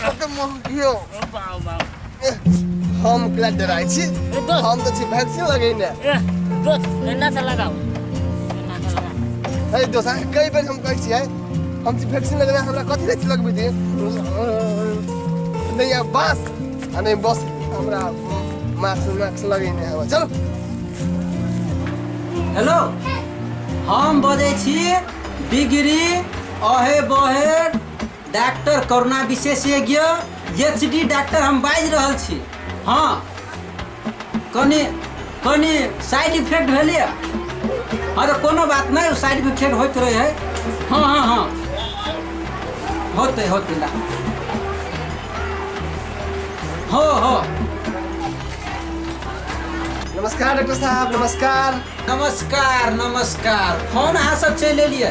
कते मोह कियो बाबा बाबा हम एकरा डराइ छी हम तऽ छी वैक्सीन लगेने दोस्त एना से लगाओ एना से लगाओ अरे दोस्त अहाँ कई बेर हम कहै छियै हम छी वैक्सीन लगेने हमरा कथी लए लगबै दिए नहि आ बास आ नहि बस हमरा मास्क मास्क लगेने हवा चलो हेलो हम बजै छी डिग्री अहे बहे डाक्टर करुणा विशेषज्ञ एच डी डाक्टर हम बाजि रहल छी हँ कनि कनि साइड इफेक्ट भेलैए हँ तऽ कोनो बात नहि साइड इफेक्ट होइत रहै है हँ हँ हँ होतै होतै ला हो हो नमस्कार डॉक्टर साहब नमस्कार नमस्कार नमस्कार फोन अहाँ सब चलि एलियै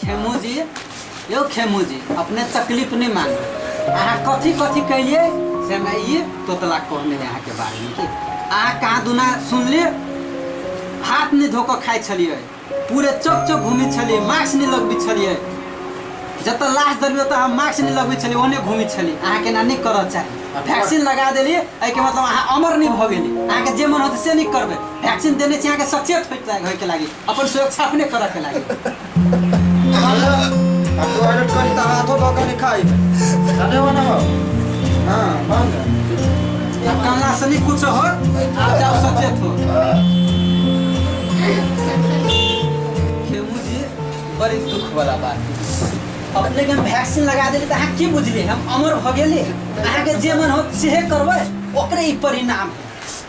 खेमू जी यौ खेमू जी अपने तकलीफ नहीं मान अहाँ कथी कथी कैलिए से मैं ये तोतला कहने है अहाँके बारेमे कि अहाँ कहाँ दुना सुनलिए हाथ नहीं धोकर खाइ छलिए पूरे चौक चौक घूमी छलिए मास्क नहीं लगबी छलिए जत लाश दरबी तो हम मास्क नहीं लगबी छलिए ओने घूमी छलिए अहाँके ना नहीं करऽ चाही वैक्सीन लगा देलिए एहिके मतलब अहाँ अमर नहीं भऽ गेली अहाँके जे मन होतै से नहीं करबै वैक्सीन देने छी अहाँके सचेत होइके लागि अपन सुरक्षा अपने करऽ के लागी अब तो अलर्ट करी तो हाथों धो के खाई खाने वाला हो हाँ बंद या काला से नहीं कुछ हो आप जाओ सचेत हो खेमू जी बड़ी दुख वाला बात है। अपने के हम वैक्सीन लगा देली तो अहाँ की बुझली हम अमर भऽ गेली अहाँके जे मन हो सेहे करबै ओकरे ई परिणाम है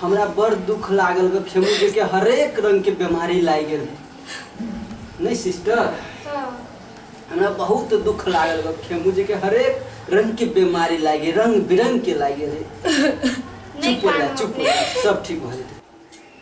हमरा बड़ दुख लागल बा खेमू जी के हरेक रंग के बीमारी लागि गेल नहीं सिस्टर हमरा बहुत दुख लागल बा खेमू जी के हरेक रंग के बीमारी लागि रंग बिरंग के लागि रहे नहीं चुप हो जा कानू चुप हो जा सब ठीक हो जेतै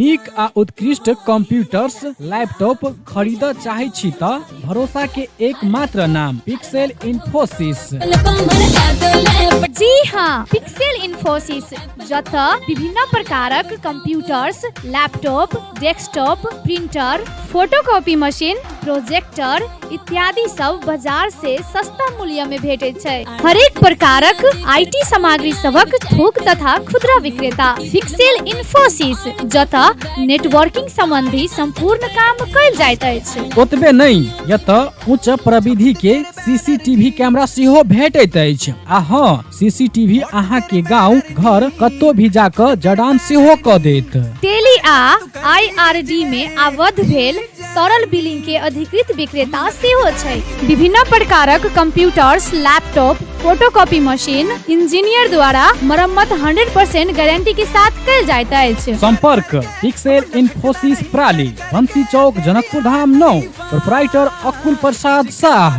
नीक आ उत्कृष्ट कंप्यूटर्स लैपटॉप खरीद चाहे छी त भरोसा के एकमात्र नाम पिक्सेल इन्फोसिस जी हाँ पिक्सेल इन्फोसिस जतय विभिन्न प्रकारक computers laptop desktop printer photocopy machine projector इत्यादि सब बाजार से सस्ता मूल्य में भेटैत छै हरेक प्रकारक आईटी सामग्री सबक थोक तथा खुदरा विक्रेता फिक्सेल इन्फोसिस जतय नेटवर्किंग संबंधी संपूर्ण काम कयल जाइत अछि ओतबे नहि एतऽ उच्च प्रविधि के सीसीटीवी कैमरा सेहो भेटैत अछि आ हँ सीसीटीवी अहाँ के गांव घर कत्तो भी जाकर जडान सेहो क देत टेली आ आईआरडी मे आबद्ध भेल सरल बिलिंग के अधिकृत विक्रेता सेहो छै विभिन्न प्रकारक computers laptop photocopy machine engineer द्वारा मरम्मत 100% गारंटी के साथ कल जाइत अछि संपर्क पिक्सेल इन्फोसिस प्राली बंसी चौक जनकपुर धाम नौ प्रोपराइटर अकुल प्रसाद शाह